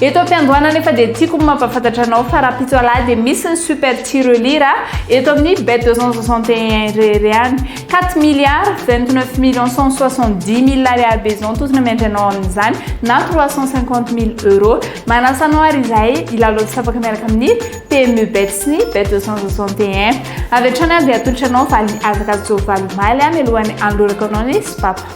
Eto am-piandohana anefa dia tiako ny mampahafantatra anao fa rahampitso alahady dia misy ny super tirelire eto amin'ny bet 261 irery any. 4 milliards 29 millions 170 mille ariary be izao ny tozona miandry anao amin'izany na 350 mille euros. Manasa anao ary izahay hilalao tsy tapaka miaraka amin'ny PMU bet sy ny bet 261. Avy hatrany aho dia atolotra anao valy azakazaka ovaly omaly mialohan'ny hanolorako anao ny sopapa.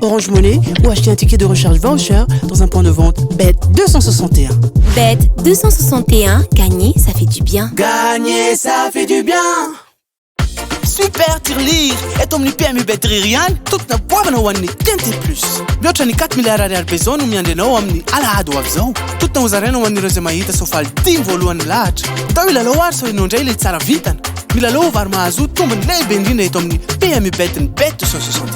Orange Money ou acheter un ticket de recharge voucher dans un point de vente BET 261. BET 261, gagner, ça fait du bien. Gagner, ça fait du bien. Super Tirelire eto amin'ny PMU Betrire ihany tokona goavana ho an'ny TNT Plus. Mihoatra ny 4 milliards ariary be izao no miandry anao amin'ny alahady ho avy izao. Tokona ho zaraina ho an'ireo izay mahita soavaly dimy voalohany lahatra. Atao hilalao ary sao ianao indray ilay tsara vintana. Milalao vary mahazo tombony lehibe indrindra eto amin'ny PMU Bet-ny Bet 260.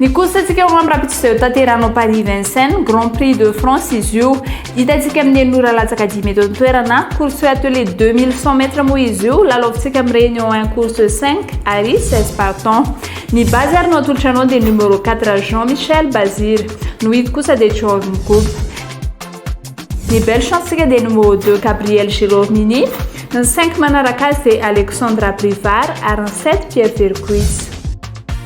Ny course-ntsika Roland Rakotoizay ho tanterahina ao Paris Vincennes, Grand Prix de France izy io. Hitantsika amin'ny enina ora latsaka dimy eto an-toerana. Course sur attelée deux mille cent mètres moa izy io, lalaovintsika amin'ny Réunion un course cinq ary seize partants. Ny base ary no atolotra anao dia numéro quatre Jean Michel Bazir. No hit kosa dia Jorn Goop. Ny belle chance-ntsika dia numéro deux Gabriel Gérôme Mini, ny cinq manaraka azy dia Alexandra Brivard ary ny sept Pierre Vercuis.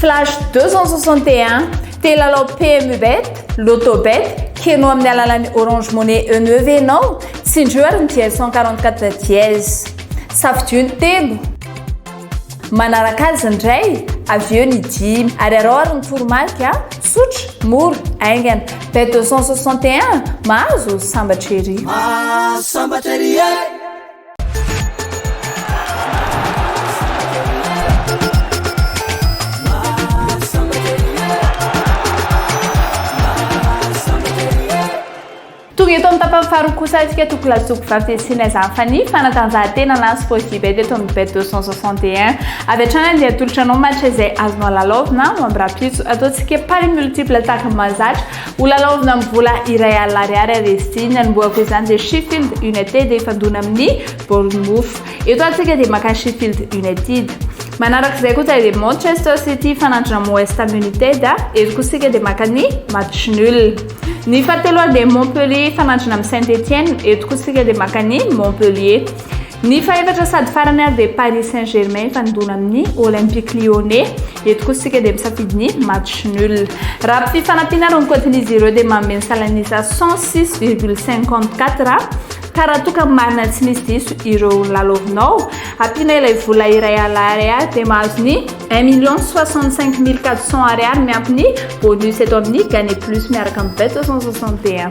Flash 261, Te hilalao PMU Bet, Lotto Bet, Keno amin'ny alalan'ny Orange Money Euneu ve ianao? Tsindrio ary ny dièse 144 dièse. Safidio ny telo. Manaraka azy ny iray, avy eo ny dimy. Ary arao ary ny toromarika, tsotra, mora, haingana. Bet 261, mahazo, sambatra ery. Mahazo, sambatra ery e! Tonga eto amin'ny tapany faharoa kosa isika toko lasoko vavy Sinez Anfani, fanatanjahantena na sport d'hiver teto amin'ny bet 261. Avy hatrany andeha atolotra anao match izay azonao lalaovina ho amin'ny rahampitso. Ataontsika pari multiple tahaka ny mahazatra Ho lalaovina amin'ny vola iray alina ariary ary izy ity. Ny anombohako izany dia Sheffield United hifandona amin'ny Bournemouth. Eto atsika dia maka Sheffield United. Manaraka izay kosa dia Manchester City hifanandrina amin'ny West Ham United. Eto kosa isika dia maka ny match nul. Ny fahateloany dia Montpellier hifanandrina amin'ny Saint-Etienne. Eto kosa isika dia maka ny Montpellier. Ny fahefatra sady farany ary dia Paris Saint Germain hifandona amin'ny Olympique Lyonnais. Eto kosa isika dia misafidy ny match nul. Raha mpify fanampiana ary ny kaontin'izy ireo dia manome ny salan'isa cent six virgule cinquante quatre ka raha toa ka marina tsy misy diso ireo nolalaovinao, ampiana ilay vola iray ala ariary dia mahazo ny un million soixante cinq mille quatre cents ariary miampy ny bonus eto amin'ny Gagner Plus miaraka amin'ny Bet soixante soixante et un.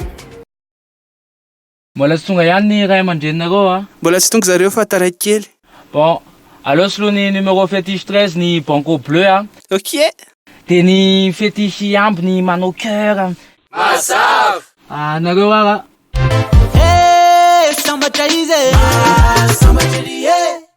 Mbola tsy tonga ihany ny ray aman-dreninareo a! Mbola tsy tonga zareo fa taraiky kely. Bon, aleo soloy ny numéro fétiche treize ny banco bleu a! Ok! Dia ny fétiche hihambo ny manao cœur a! Mazava! Anareo ara! Hey! Sambatra izy e! Maha sambatra ery e!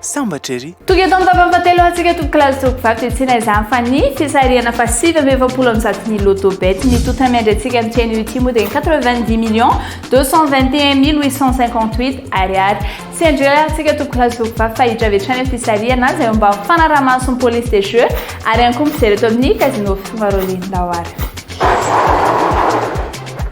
Sambatra ery! Tonga eto amin'ny vavany fahatelo ho antsika tompoko lahy sy tompoko vavy dia tsy inona izany fa ny fisarihana faha sivy amby efapolo amin'ny zato ny Lotto Bet. Ny tonta miandry antsika amin'ity anio ity moa dia ny quatre-vingt-dix millions deux cent vingt et un mille huit cent cinquante-huit Ariary. Tsy hendry irery ary isika tompoko lahy sy tompoko vavy fa hiditra avy hatrany amin'ny fisarihana izay eo ambany fanaraha-mason'ny police des jeux ary ihany koa mijery eto amin'ny Casino Fivarolin-daoara.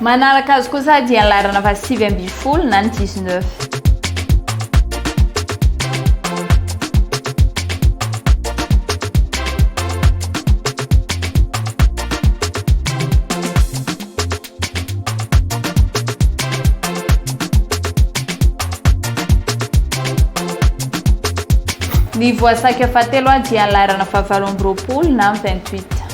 Manaraka azy kosa dia ny laharana faha sivy ambin'ny folo na ny dix neuf. Ny voasakika fahatelo dia ny laharana fahavalo amby roapolo na ny vingt huit.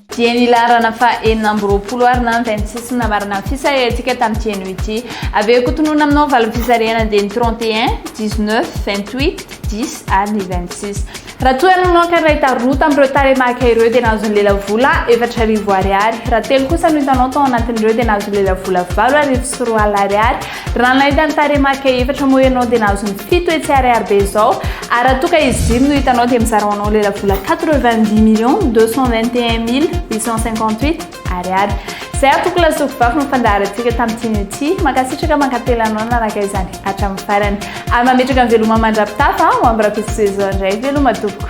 Dia ny laharana faha enina amby roapolo ary na ny vingt-six namarana ny fisarihantsika tamin'ity anio ity. Avy eo kotonona aminao ny valin'ny fisarihana dia ny trente et un, dix-neuf, vingt-huit, dix ary ny vingt-six. Ratsonanonaka iray taroa tamin'ireo taremaka ireo dia nahazo ny lelavola efatra arivo Ariary. Raha telo kosa no hitanao tao anatin'ireo dia nahazo ny lelavola valo arivo sy roa alina Ariary. Raha nahita ny tarehimarika efatra moa ianao dia nahazo ny fito etsy ariary be izao ary raha toa ka izy dimy no hitanao dia mizara ho anao ilay lavola quatre-vingt-dix millions deux cent vingt et un mille huit cent cinquante-huit ariary. Izay ary tompoko Lasofibafy no fandaharantsika tamin'ity an'ity. Mankasitraka mankatelina anao nanaraka izany hatramin'ny farany. Ary mametraka ny veloma mandrapitafa ho amin'ny Rafisoa Ezo indray veloma tompoko.